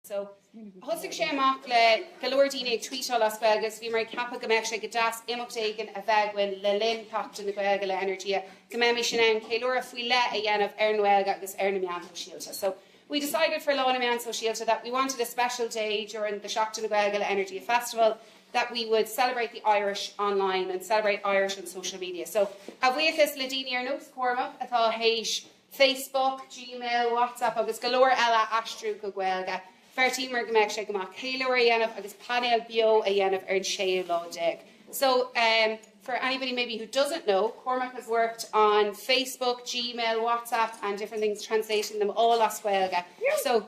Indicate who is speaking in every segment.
Speaker 1: So thosaigh sé amach le go leor daoine ag tweetáil as Gaeilge so bhíomar ag ceapadh go mbeadh sé go deas imeacht éigin a bheith againn le linn Sheachtain na Gaeilge le Energia go mbeimis in ann ceiliúradh faoi leith a dhéanamh ar an nGaeilge agus ar na meáin shóisialta. So we decided for Lá na Meán Sóisialta that we wanted a special day during the Seachtain na Gaeilge le Energia Festival that we would celebrate the Irish online and celebrate Irish on social media. So a bhuíochas le daoine ar nós Cormac atá théis Facebook, Gmail, WhatsApp agus go leor eile a aistriú go Gaeilge. Bheartaíomar go mbeadh sé go maith ceiliúradh a dhéanamh agus painéal beo a dhéanamh ar an séú lá déag. So, em, for anybody maybe who doesn't know, Cormac has worked on Facebook, Gmail, WhatsApp and different things, translating them all as Gaeilge. So.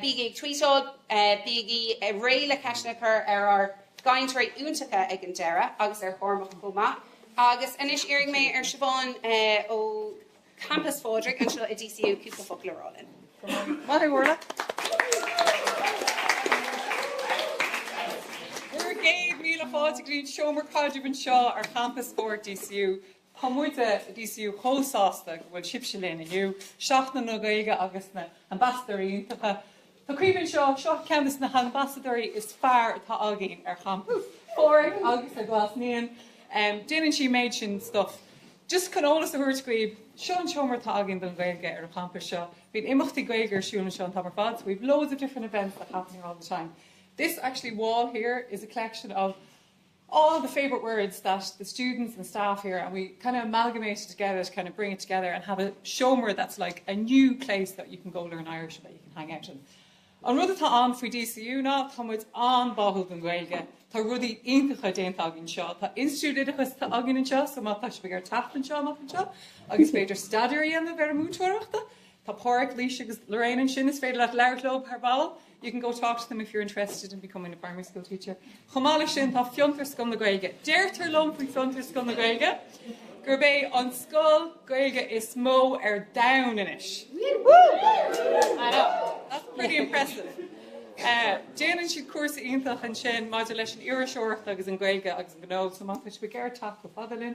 Speaker 1: Bígí ag tvuíteáil, bígí réidh le ceisteanna a chur ar ár gcainteoirí iontacha ag an deireadh agus ar Chormac chomh maith. Agus anois iarrfaidh mé ar Siobhán ó Champas Phádraig anseo i DCU cúpla focal a rá linn. Go raibh maith agat
Speaker 2: Orla. Céad míle fáilte go dtí an seomra caidrimh anseo ar Champas Phádraig DCU. Tá muide i DCU chomh sásta go bhfuil sibhse linn inniu, Seachtain na Gaeilge agus na hAmbasadóirí iontacha. Tá Caoimhe anseo, seo ceann de na hambasadóirí is fearr atá againn ar Champas Phádraig agus i nGlas Naíon. Déanann sí an méid sin stuif just chun eolas a thabhairt dhaoibh, seo an seomra atá againn don Ghaeilge ar an champas seo. Bíonn imeachtaí Gaeilge ar siúl anseo an t-am ar fad, so we've loads of different events that happen here all the time. This actually wall here is a collection of all the favourite words that the students and staff here and we kind of amalgamate it together to kind of bring it together and have a seomra that's like a new place that you can go learn Irish that you can hang out in. An rud atá ann faoi DCU ná tá muid an-báúil don Ghaeilge, tá rudaí iontacha déanta againn anseo, tá institiúid oideachais atá againn anseo so má tá sibh ag teacht anseo amach anseo is féidir staidéar a dhéanamh ar an múinteoireachta, tá Páraic, Louise agus Lorraine ansin is féidir leat labhairt leo ar ball. You can go talk to them if you're interested in becoming a primary school teacher. Chomh maith leis sin, tá Fiontar, Scoil na Gaeilge. Deirtear liom faoi Fiontar, Scoil na Gaeilge, gurb é an scoil Gaeilge is mó ar domhan anois. Woo! I know, that's pretty impressive. Eh, déanann siad cúrsa iontach ansin maidir leis an iriseoireacht agus an Ghaeilge agus an gnó, so má tá sibh ag iarraidh teacht chomh fada linn,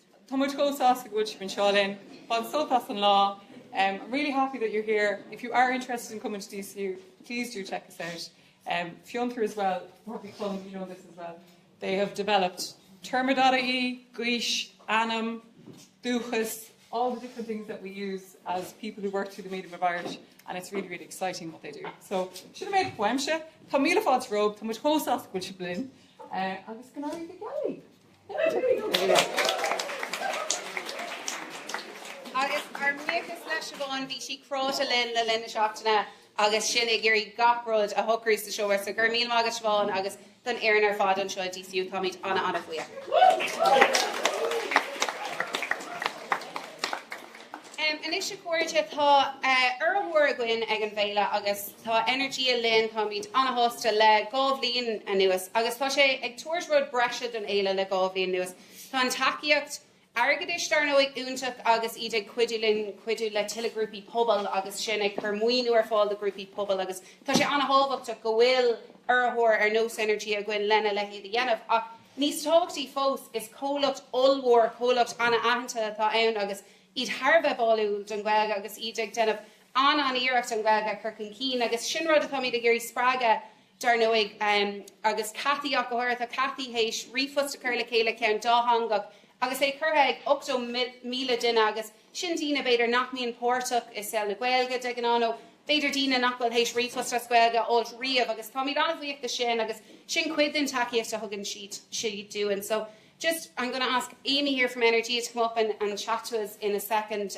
Speaker 2: Tá muid chomh sásta go bhfuil sibh anseo linn. Bain sult as an lá. I'm really happy that you're here. If you are interested in coming to DCU, please do check us out. Fiontar as well, Rugbaí Club, you know this as well. They have developed Téarma.ie, Gaois, Ainm, Dúchas, all the different things that we use as people who work through the medium of Irish and it's really, really exciting what they do. So, sin an méid uaimse. Tá míle fáilte romhaibh. Tá muid chomh sásta go bhfuil sibh linn. Agus go n-éirí go geal libh!
Speaker 1: Agus ár mbuíochas le Siobhán, bhí sí cráite linn le linn na seachtaine agus sinn ag iarraidh gach rud a shocrú sa seomra, so go raibh míle maith agat Siobhán agus don fhoireann ar fad anseo i DCU, táimid ana ana bhuíoch. Anois a chairde, tá urraitheoir againn ag an bhféile agus. Tá Energia linn, táimid ana-shásta le dhá bhliain anuas agus tá sé ag tabhairt rud breise don fhéile le dhá bhliain anuas. Tá an tacaíocht airgeadais, dar ndóigh, iontach agus iad ag cuidiú le tuilleadh grúpaí pobail agus sinn ag cur maoiniú ar fáil do ghrúpaí pobail agus tá sé ana-thábhachtach go bhfuil urraitheoir ar nós Energia againn lena leithéid a dhéanamh. Ach níos tábhachtaí fós, is comhlacht ollmhór, comhlacht ana-aitheanta atá ann agus iad thar a bheith báúil don Ghaeilge agus iad ag déanamh an-iarracht an Ghaeilge a chur chun cinn agus sin rud atáimid ag iarraidh a spreagadh dar ndóigh agus Cathy ach go háirithe. Tá Cathy théis ríomhphost a chur le chéile, ceann dátheangach agus é curtha ag 8,000 duine agus sin daoine b'fhéidir nach mbíonn páirteach i saol na Gaeilge de ghnáth nó b'fhéidir daoine nach bhfuil théis ríomhphost as Gaeilge a fháilt riamh agus táimid an-bhuíoch de sin agus sin cuid den tacaíocht a thugann siad dúinn. So just I'm gonna ask Amy here from Energia to come up and and chat to us in a second.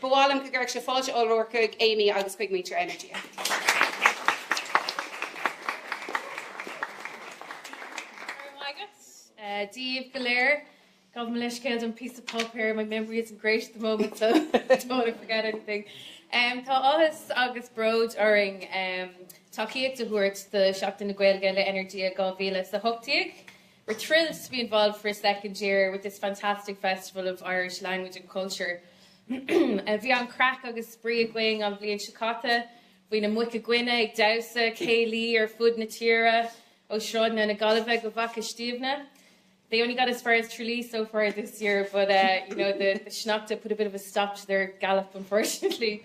Speaker 1: Ba mhaith liom go gcuirfeadh sibh fáilte ollmhór chuig Amy agus chuig muintir Energia.
Speaker 3: Dia daoibh go léir, gabh mo leithscéal don píosa páipéir, my memory isn't great at the moment so I don't want to forget anything. Tá áthas agus bród orainn tacaíocht a thabhairt do Sheachtain na Gaeilge le Energia 2018. We're thrilled to be involved for a second year with this fantastic festival of Irish language and culture. Bhí an-chraic agus spraoi againn an bhliain seo caite. Bhí na muca guine ag damhsa céilí ar fud na tíre, ó sráideanna na Gaillimhe go Faiche Stiabhna. They only got as far as Tralee so far this year but uh, you know, the, the sneachta put a bit of a stop to their gallop unfortunately.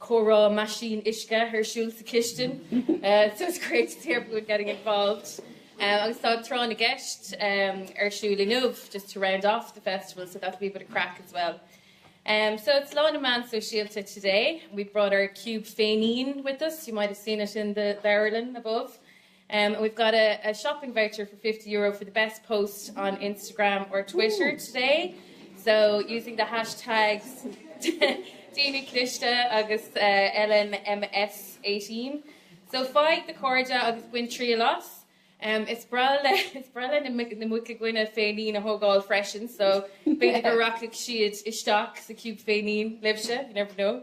Speaker 3: comhrá meaisín uisce ar siúl sa chistin so it's great to see everyone getting involved agus tá tráth na gceist ar siúl inniu just to round off the festival so that'll be a bit of craic as well so it's Lá na Meán Sóisialta today, we've brought our Cube féinín with us, you might have seen it in the leabharlann above. Um we've got a a shopping voucher for fifty euro for the best post on Instagram or Twitter today so using the hashtags Daoine Cliste agus eh LNMS18 so faigh do chairde agus bain triail as! Um is breá le is breá le na muic na muca guine féinín a thógáil freisin so b'fhéidir go rachaidh siad isteach sa cube féinín libhse, you never know!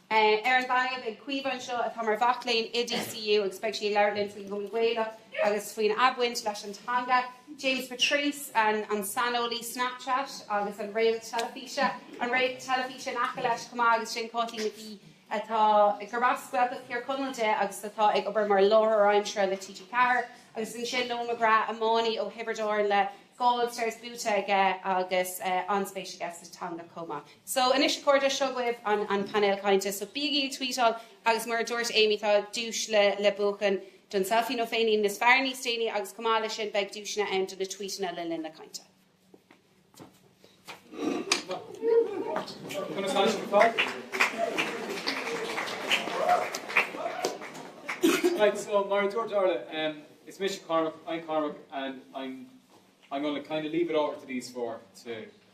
Speaker 1: Ar an taobh tá Caoimhe anseo, atá mar mhac léinn i DCU agus beidh sí ag labhairt linn faoin gCumann Gaelach agus faoina baint leis an teanga. James Patrice, an saineolaí Snapchat agus an réalt teilifíse, an réalt teilifíse in aice leis chomh maith agus sin Caitlín Nic Aoidh atá, gurb as Gaeltacht Thír Chonaill di agus atá ag obair mar láithreoir aimsire le TG4 agus ansin Noel McGrath, iománaí ó Thiobraid Árann le dhá All Stars buaite aige agus an-spéis aige sa teanga chomh maith. So anois a chairde, seo dhaoibh an painéal cainte, so bígí ag tweetáil agus mar a dúirt Amy tá duais le buachan don selfie nó féinín is fearr níos déanaí agus chomh maith leis sin beidh duaiseanna ann do na tweetanna le linn na cainte. Conas tá sibh ar
Speaker 4: fad? Right, so mar a dúirt Orla, em is mise Cormac, I'm Cormac and I'm I'm gonna kinda leave it over to these four to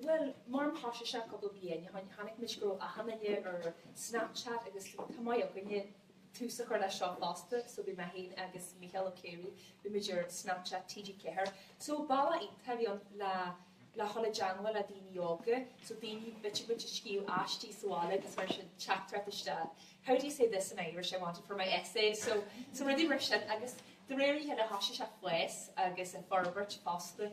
Speaker 4: Bhuel, mura
Speaker 5: mbeadh sé sin cúpla bliain ó shin, chonaic muid go raibh achan duine ar Snapchat agus tá maith againne tús a chur leis seo fosta, so bhí mé féin agus Mícheál Ó Ciaraidh, bhí muid ar Snapchat TG4. So bealach a bhí ann le, le dhul i dteangmháil le daoine óga, so daoine, b'fhéidir ag scríobh aistí sa bhaile agus mar sin, teachtaireacht isteach, how do you say this in Irish, I want it for my essay, so, so rudaí mar sin agus de réir a chéile thosaigh sé ag fás agus ag forbairt fosta.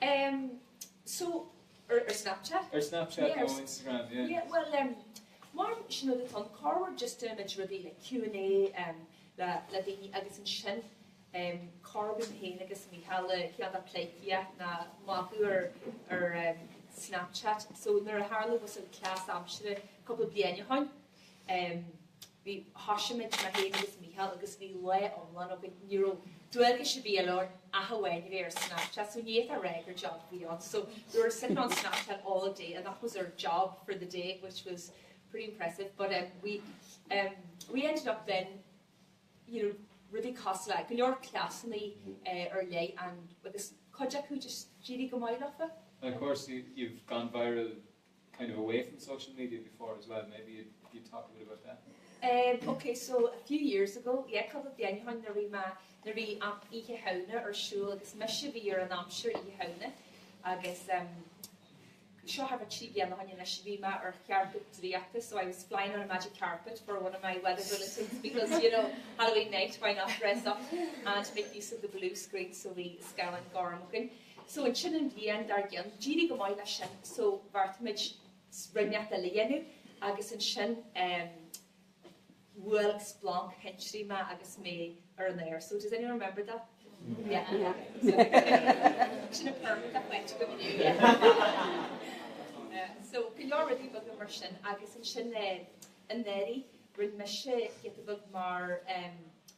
Speaker 4: Em
Speaker 5: so, ar ar Snapchat? Ar Snapchat Yeah, ar
Speaker 4: nó
Speaker 5: Instagram,
Speaker 4: yeah. yeah, bhuel em,
Speaker 5: mar sin rud atá ann, corruair just ghnímid rudaí like Q and A em le le daoine agus ansin em corruair bím féin agus Mícheál le chéile ag pleidhcíocht ná magadh ar ar em Snapchat so nuair a tharla bhuel an cleas aimsire cúpla bliain ó shin, bhí, thoisigh muid, mé féin agus Micheál, agus bhí lá iomlán againn, ní raibh dualgais ar bith eile orainn ach amháin a bheith ar Snapchat, so ní fhéadfá a rá gur job a bhí ann, so we were sitting on Snapchat all day and that was our job for the day which was pretty impressive but em we em we ended up then you know rudaí cosúil le, go leor cleasannaí eh ar leith and agus cuid acu just d'éirigh go maith leofa. And of course
Speaker 4: you've gone viral kind of away from social media before as well, maybe you'd you'd talk a bit about that? Um, ok, so a
Speaker 5: few years ago, yeah, cúpla bliain ó shin bhí an Oíche Shamhna ar siúl agus mise a bhí ar an aimsir Oíche Shamhna agus um, seo thart ar trí bliana ó shin anois bhí mé ar chairpéad draíochta, so I was flying on a magic carpet for one of my weather bulletins because you know Halloween night why not dress up and make use of the blue screen so bhí scáileán gorm. So ansin an bhliain dar gcionn, d'éirigh go maith leis sin so bheartaigh muid rud inteacht eile a dhéanamh agus ansin ehm bhuail splanc thintrí mé agus mé ar an aer. So does anyone remember that? Yeah, yeah. So sin an pervert a chaint agam inniu yeah. So go leor rudaí beaga mar sin agus ansin eh anuraidh rinne mise giota beag mar ehm,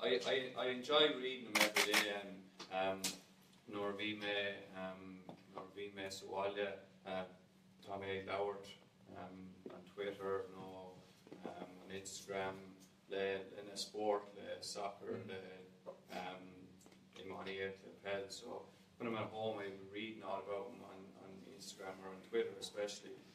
Speaker 6: I, I, I enjoy reading them every day and um nuair a bhí mé um nuair a bhí mé sa bhaile tá mé ag labhairt um ar Twitter nó um ar Instagram le le na spóirt le soccer le um iománaíocht le peil so when I'm at home I'm reading all about them on, on Instagram or on Twitter especially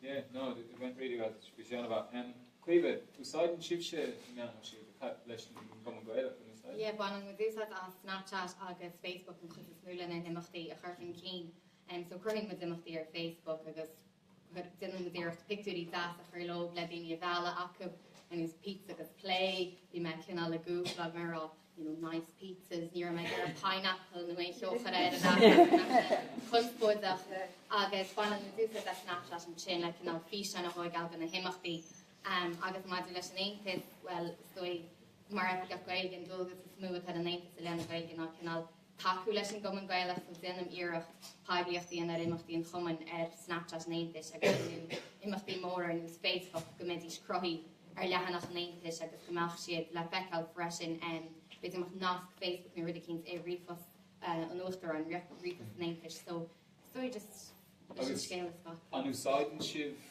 Speaker 4: Yeah, no, it went really well, go deas mhaith. Em, Caoimhe, úsáideann sibhse na meáin shóisialta, sibh leis an gCumann Gaelach, an úsáideann? Yeah, baineann
Speaker 7: muid úsáid as Snapchat agus Facebook an chuid is mó leis na himeachtaí a chur chun cinn. Em, so cruthaíonn muid imeachtaí ar Facebook agus déanann muid iarracht pictiúirí deasa a chur leo le daoine a mhealladh chucu, agus pizza agus Plé, bhí mé cineál ag Googleáil, you know, nice pizzas, ní raibh mé ag iarraidh pineapple nó aon cheo a chur ann a bheadh conspóideach, agus baineann muid úsáid as Snapchat ansin le cineál físeáin a thógáil de na himeachtaí. Agus maidir leis an Aontas, bhuel, is dóigh mar oifigeach Gaeilge an dualgas is mó atá ar an Aontas i leith na Gaeilge ná cineál tacú leis an gCumann Gaelach, ag déanamh iarracht poiblíocht a dhéanamh ar imeachtaí an Chumainn ar Snapchat an Aontais agus imeachtaí móra ar nós Féile, go mbeidís cruthaithe ar leathanach an Aontais agus go mbeadh siad le feiceáil freisin, b'fhéidir go mbeadh nasc Facebook nó rud eicínt i ríomhphost an Uachtaráin, ríomhphost an Aontais, so, is dóigh just leis an scéal a scaipeadh. An úsáideann sibh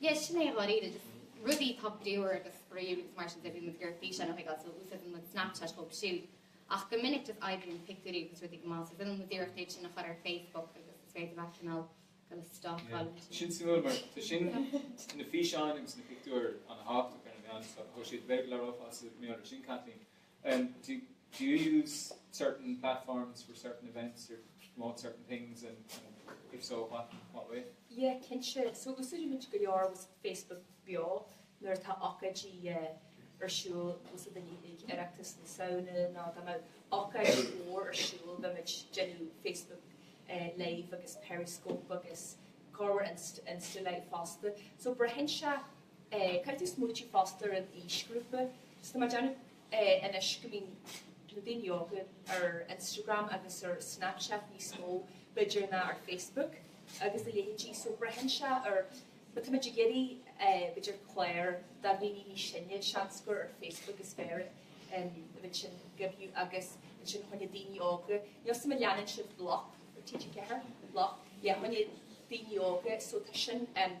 Speaker 7: yeah, sin é a bhfuil iad, just rudaí atá bríomhar agus spraíúil agus mar sin de is féidir físeáin a thógáil, so úsáideann muid Snapchat dóibh siúd. Ach go minic just oibríonn pictiúirí agus rudaí go maith, so déanann muid iarracht iad sin a chur ar Facebook agus is féidir leat cineál dul ag stalkáil ansin. Yeah, sin suimiúil
Speaker 4: mar tá, sea, na físeáin agus na pictiúir an-tábhachtach ar na meáin, so sea, b'fhéidir le rá fosta mar ar sin Kathleen, do you use certain platforms for certain events or to promote certain things and if so what what way? Yeah cinnte
Speaker 5: so úsáidimid go leor Facebook Beo nuair atá ócáidí ar siúl má táimid ag Oireachtas na Samhna nó má tá ócáid mhór ar siúl beimid ag déanamh Facebook live agus Periscope agus corruair Insta live fosta so braitheann sé Caithfidh tú smaoineamh fosta ar an aoisghrúpa. Tá mé ag déanamh anois go mbíonn na daoine óga ar Instagram agus ar Snapchat níos mó, b'fhéidir, ná ar Facebook agus a leithéidí, só braitheann sé ar, má táimid ag iarraidh b'fhéidir clár do dhaoine níos sine, seans gur ar Facebook is fearr é, an rud sin a dhéanamh agus ansin fá choinne na daoine óga, níl 'fhios a'm an leanann sibh bloc ar TG4? bloc, yeah, fá choinne na daoine óga, só tá sin ann.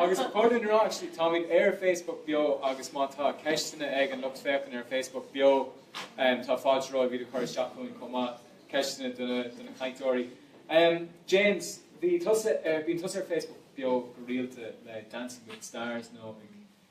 Speaker 4: Agus chun a rá i dtosach, táimid ar Facebook Beo agus má tá ceisteanna ag an lucht féachana ar Facebook Beo, tá fáilte romhaibh iad a chur isteach chugainn chomh maith, ceisteanna do na cainteoirí. James, bíonn tusa ar Facebook Beo go rialta le Dancing with the Stars nó ag.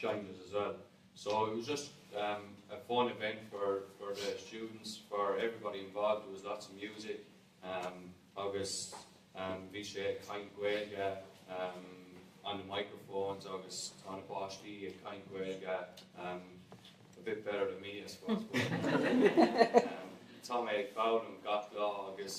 Speaker 6: Challenges as well so it was just a fun event for for the students for everybody involved there was lots of music agus bhí mé ag caint Gaeilge on the microphones agus tá na páistí ag caint Gaeilge a bit better than me I suppose but tá mé ag foghlaim gach lá agus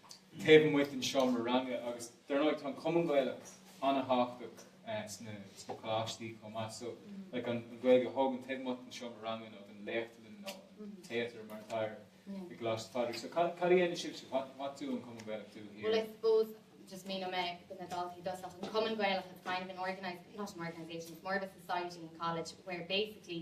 Speaker 4: taobh amuigh den seomra ranga agus dar ndóigh tá an Cumann Gaelach an-tábhachtach sna coláistí chomh maith so like an Ghaeilge a thógaint taobh amuigh den seomra ranga nó den léachtlann nó an téatar mar atá air i gColáiste Phádraig so cad a dhéanann sibhse? What, what do an Cumann Gaelach do here? Well I
Speaker 7: suppose just míneoidh mé do na daltaí i dtosach an Cumann Gaelach it's kind of an organised not an organisation it's more of a society in college where basically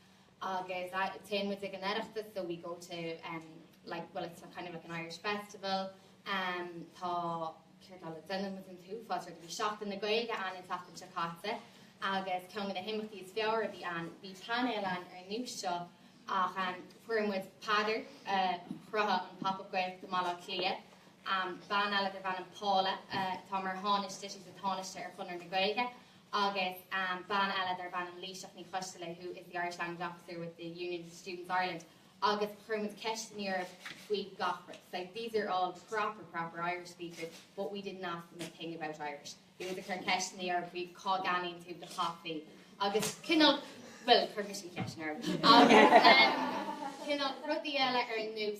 Speaker 7: Agus téann muid chuig an Oireachtas, so we go to em like well it's kind of like an Irish festival em tá, cad eile, déanann muid an t-uafás rudaí. Bhí Seachtain na Gaeilge ann an tseachtain seo caite agus ceann de na himeachtaí is fearr a bhí ann, bhí painéal ann ar nós seo ach em fuair muid Peadar a chruthaigh an Pop Up Gaeltacht i mBaile Átha Cliath, em bean eile darb ainm Paula atá mar thánaiste, she's a tánaiste ar Chonradh na Gaeilge agus bean eile darb ainm Laoighseach Ní Choistealbha who is the Irish Language Officer with the Union of Students Ireland agus chuir muid ceist orthu faoi gach rud like these are all proper Irish speakers but we didn't ask them a thing about Irish. Bhí muid ag cur ceist orthu faoi cá gceannaíonn tú do chaife agus cineál bhuel, chuir mise an cheist orthu agus cineál rudaí eile ar nós,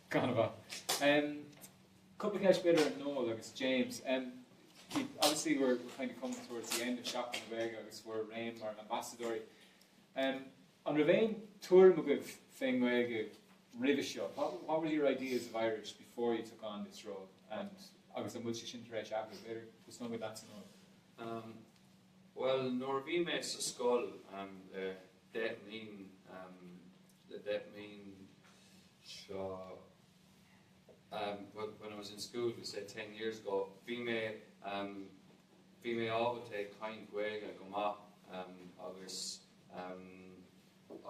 Speaker 4: Gan a dhath. Cúpla ceist b'fhéidir ar Noel agus James. Obviously we're kind of coming towards the end of Seachtain na Gaeilge agus bhur ré mar ambasadóirí. An raibh aon tuairim agaibh fén nGaeilge roimhe seo? What were your ideas of Irish before you took on this role agus an bhfuil sé sin tar éis athrú? B'fhéidir tosnóimid leatsa Noel.
Speaker 6: Bhuel nuair a bhí mé sa scoil le deich mbliain, le deich mbliain, so when I was in school we say ten years ago bhí mé bhí mé ábalta ag caint Gaeilge go maith agus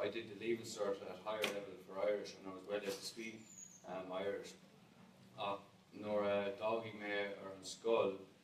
Speaker 6: I did the leaving cert at higher level for Irish and I was well able to speak um, Irish ach nuair a d'fhág mé an scoil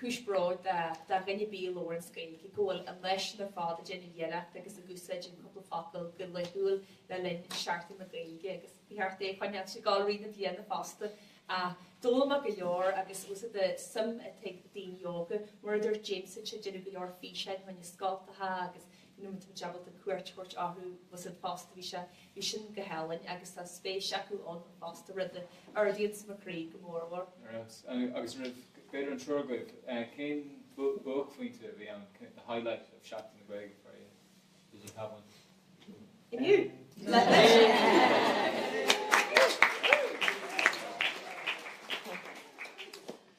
Speaker 5: Cúis bhróid do dhuine ar bith a labhrann Gaeilge go bhfuil a leithéid sin ar fad ag déanamh iarracht agus ag úsáid an cúpla focal go laethúil le linn seachtain na Gaeilge agus ba cheart é a choinneáil ag gabháil i rith na bliana fosta ar ndóigh maith go leor agus úsaid de suim atá ag daoine óga. Mar a dúirt James anseo ag déanamh go leor físeáin fá choinne scoltacha agus nuair atá muid ábalta cuairt a thabhairt orthusan fosta, bhí sé, bhí sin go hálainn agus tá spéis acu ann fosta, rud a ardaíonns mo chroí go mór mhór. Agus
Speaker 4: roimh, b'fhéidir an triúr agaibh, cén buaicphointe a bhí ann, the highlight of Seachtain na Gaeilge for you? Did you have one? Inniu!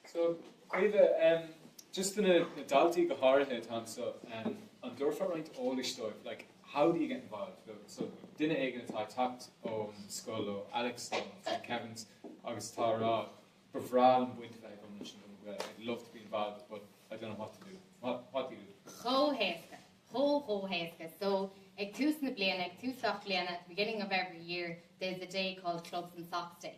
Speaker 4: So, Caoimhe, just do na daltaí go háirithe atá anseo, an dtabharfá roinnt eolais dóibh, like, how do you get involved? So, duine éigin atá ag teacht ón scoil, ó Alex nó from Kevin's, agus atá ag rá, ba bhreá liom baint a bheith agam leis an gCumann Gaelach, I'd love to be involved but I don't know what to do, what, what do you do? Chomh
Speaker 7: héasca, chomh, chomh héasca. So, ag tús na bliana, ag tús gach bliana, at the beginning of every year, there's a day called Clubs and Socs Day.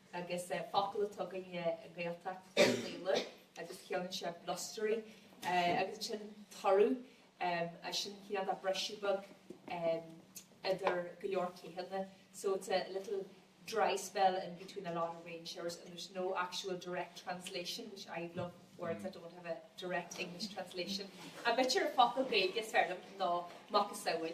Speaker 5: agus focal atá acu i nGaeltacht Láir agus ciallaíonn sé blustery agus ansin turadh, sin cineál de briseadh beag idir go leor ceathanna so it's a little dry spell in between a lot of rain showers and there's no actual direct translation which I love words that don't have a direct English translation. Ach b'fhéidir an focal Gaeilge is fearr liom ná macasamhail.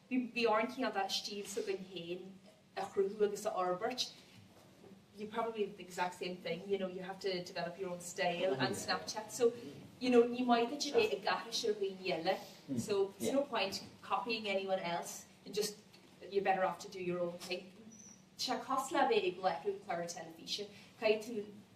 Speaker 5: Bhí, bhí orainn cineál de stíl s'againn féin a chruthú agus a fhorbairt, you probably do the exact same thing, you know, you have to develop your own style on Snapchat, so, you know, níl maith duit a bheith ag aithris ar dhaoine eile, so there's no point copying anyone else, you just, you're better off to do your own thing. Tá sé cosúil le bheith ag láithriú cláir teilifíse, caithfidh tú,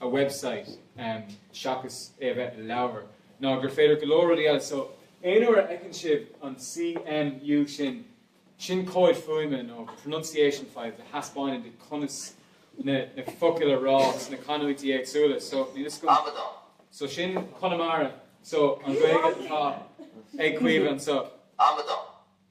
Speaker 4: a website seachas é a bheith i leabhar, ná gur féidir go leor rudaí eile, so aon uair a fheiceann sibh an C, M, U sin, sin comhaid fuaime nó pronunciation files a thaispeánann duit conas na focail a rá sna canúintí éagsúla, so, so sin Conamara, so an Ghaeilge atá ag Caoimhe anseo.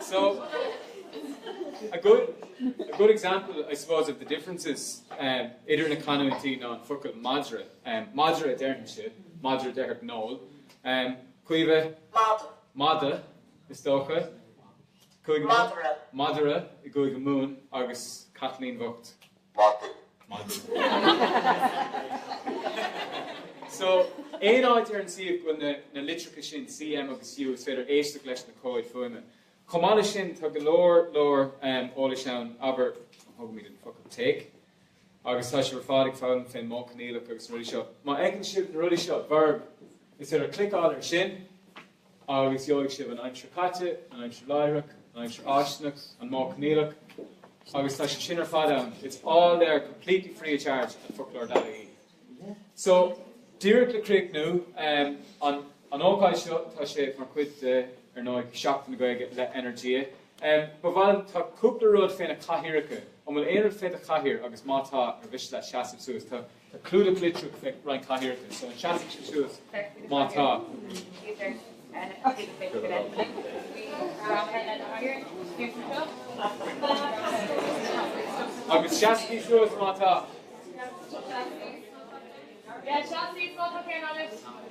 Speaker 4: So, a good, a good example, I suppose, of the differences ehm, idir na canúintí ná an focal madra. Ehm, madra a déarfainnse, madra a déarfadh Noel. Ehm, Caoimhe? Mada. Mada, is dócha. Madra. Madra i gCúige Mumhan agus Caitlín bhocht. Maidir. Maidir. So, aon áit ar an suíomh go bhfuil na, na litreacha sin, C, M agus U, is féidir éisteacht leis na comhaid fuaime. Chomh maith leis sin, tá go leor, leor eolais ann, abair, tógaimid an focal take, agus tá sibh ar fad ag foghlaim fén modh coinníollach agus na rudaí seo. Má fheiceann sibh na rudaí seo, verb, is féidir cliceáil ar sin, Agus gheobhaidh sibh an Aimsir Chaite, an Aimsir Láithreach, an Aimsir Fháistineach, an Modh Coinníollach, agus tá sé sin ar fad ann, it's all there completely free of charge at foclóir dot ie. So, díreach le críochnú, an an ócáid seo, tá sé mar chuid de, ar ndóigh, Seachtain na Gaeilge le Energia. Ba mhaith liom, tá cúpla rud fé na cathaoireacha, an bhfuil aon rud fé do chathaoir agus má tá, ar mhiste leat seasamh suas, tá Tá clúdach litreach fé roinnt cathaoireacha, so an seasfadh sibh suas má tá.